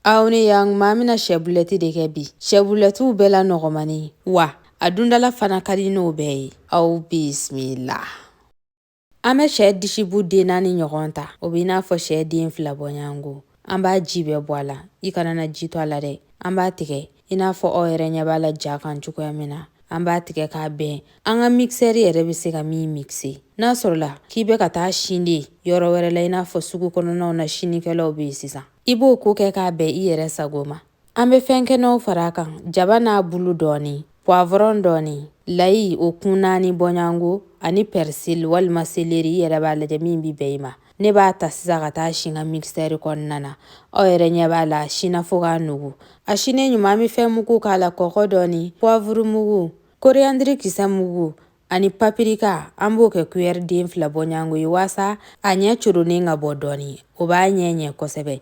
aw ni yan an bɛna sɛ bulɛti de kɛ bi sɛ bulɛtiw bɛɛ la nɔgɔmani wa a dun da la fana ka di n'o bɛɛ ye aw bisimila an bɛ sɛ disibu den naani ɲɔgɔn ta o bɛ i n'a fɔ sɛ den fila bɔɲɔgɔnko an b'a ji bɛɛ bɔ a la i kana na ji to a la dɛ an b'a tigɛ i n'a fɔ aw yɛrɛ ɲɛ b'a la ja kan cogoya min na an b'a tigɛ k'a bɛn an ka mikisɛri yɛrɛ bɛ se ka min mikise n'a sɔrɔla k'i bɛ ka taa sin de yɔrɔ wɛrɛ la i n'a fɔ sugu kɔnɔnaw na sinikɛlaw bɛ yen sisan i b'o ko kɛ k'a bɛn i yɛrɛ sago ma an bɛ fɛn kɛnɛw fara kan jaba n'a bulu dɔɔni puwavɔrɔn dɔɔni layi o kun naani bɔɲɔgɔnko ani pɛrisili walima seleri i yɛrɛ b'a lajɛ min bɛ bɛn i ma ne b'a ta sisan ka taa sin n ka mikisɛri kɔnɔna na aw yɛrɛ ɲɛ b'a la a sinna fo k'a nugu a sinnen ɲuman an bɛ fɛn mugu k'a la kɔkɔ dɔɔni puwavuru mugu koriyandiri kisɛ mugu ani papirika an b'o kɛ kuyɛri den fila bɔɲɔgɔnko ye waasa a ɲɛ coronen ka bɔ dɔɔni o b'a ɲɛ ɲɛ kosɛbɛ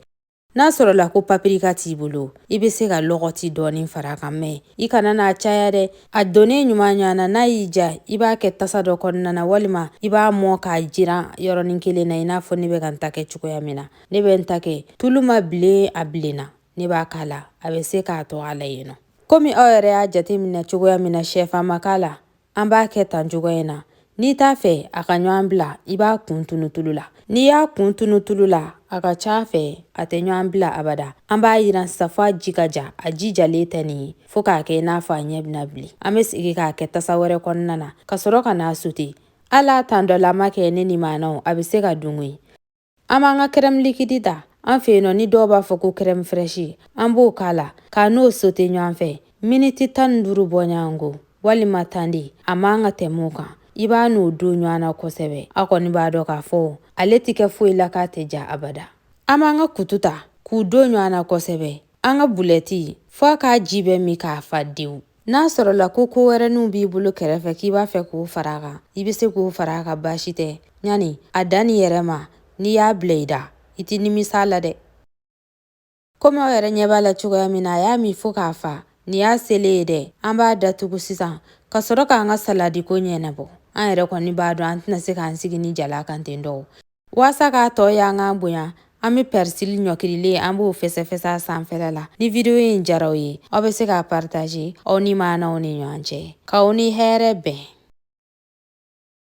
n'a sɔrɔla ko papirika t'i bolo i bɛ se ka lɔgɔti dɔɔni fara kan mɛ i kana n'a caya dɛ a donnen ɲuman ɲɔgɔn na n'a y'i diya i b'a kɛ tasa dɔ kɔnɔna na walima i b'a mɔn k'a jiran yɔrɔnin kelen na i n'a fɔ ne bɛ ka n ta kɛ cogoya min na ne bɛ n ta kɛ tulu ma bilen a bilenna ne b'a k'a la a bɛ se k'a to a la yen nɔ komi aw yɛrɛ y'a jateminɛ cogoya min na shɛfan ma k'a la an b'a kɛ tan cogoya in na n'i t'a fɛ a ka ɲɔgɔn bila i b'a kun tunu tulu la n'i y'a kun tunu tulu la a ka ca fɛ a tɛ ɲɔgɔn bila abada an b'a yiran sisan fo a ji ka ja a ji jalen tɛ nin ye fo k'a kɛ i n'a fɔ a ɲɛ bɛna bilen an bɛ sigi k'a kɛ tasa wɛrɛ kɔnɔna na ka sɔrɔ ka n'a sote ala tan dɔ la ma kɛ ne limaanaw a bɛ se ka dungo ye An b'an ka kɛrɛmu likidi ta an fɛ yen nɔ ni dɔw b'a fɔ ko kɛrɛmu fɛrɛsi an b'o k'a la k'a n'o sote ɲɔgɔn fɛ miniti tan ni duuru bɔɲɔgɔnko walima tan de a man ka tɛmɛ o kan i b'a n'o don ɲɔgɔn na kosɛbɛ a kɔni b'a dɔn k'a fɔ ale tɛ kɛ foyi la k'a tɛ diya abada an b'an ka kutu ta k'u don ɲɔgɔn na kosɛbɛ an ka bulɛti fo a k'a ji bɛɛ min ka fa dewu n'a sɔrɔla ko ko wɛrɛninw b'i bolo kɛrɛfɛ k'i b'a fɛ k'o fara a kan i bɛ se k'o fara a kan baasi tɛ ɲani a danni yɛrɛ ma n'i y'a bila i da i tɛ nimisa a la dɛ komi aw yɛrɛ ɲɛ b'a la cogoya min na a y'a min fo ka fa nin y'a selen ye dɛ an b'a datugu sisan ka sɔrɔ k'an ka saladi ko ɲɛnabɔ an yɛrɛ kɔni b'a dɔn an tɛna se k'an sigi nin jalan kan ten dɔw Walasa k'a tɔ ye an k'an bonya an bɛ pɛrisili ɲɔkirilen an b'o fɛsɛfɛsɛ a sanfɛla la ni video in diyara aw ye aw bɛ se k'a partage aw limaanaw ni ɲɔgɔn cɛ k'aw ni hɛrɛ bɛn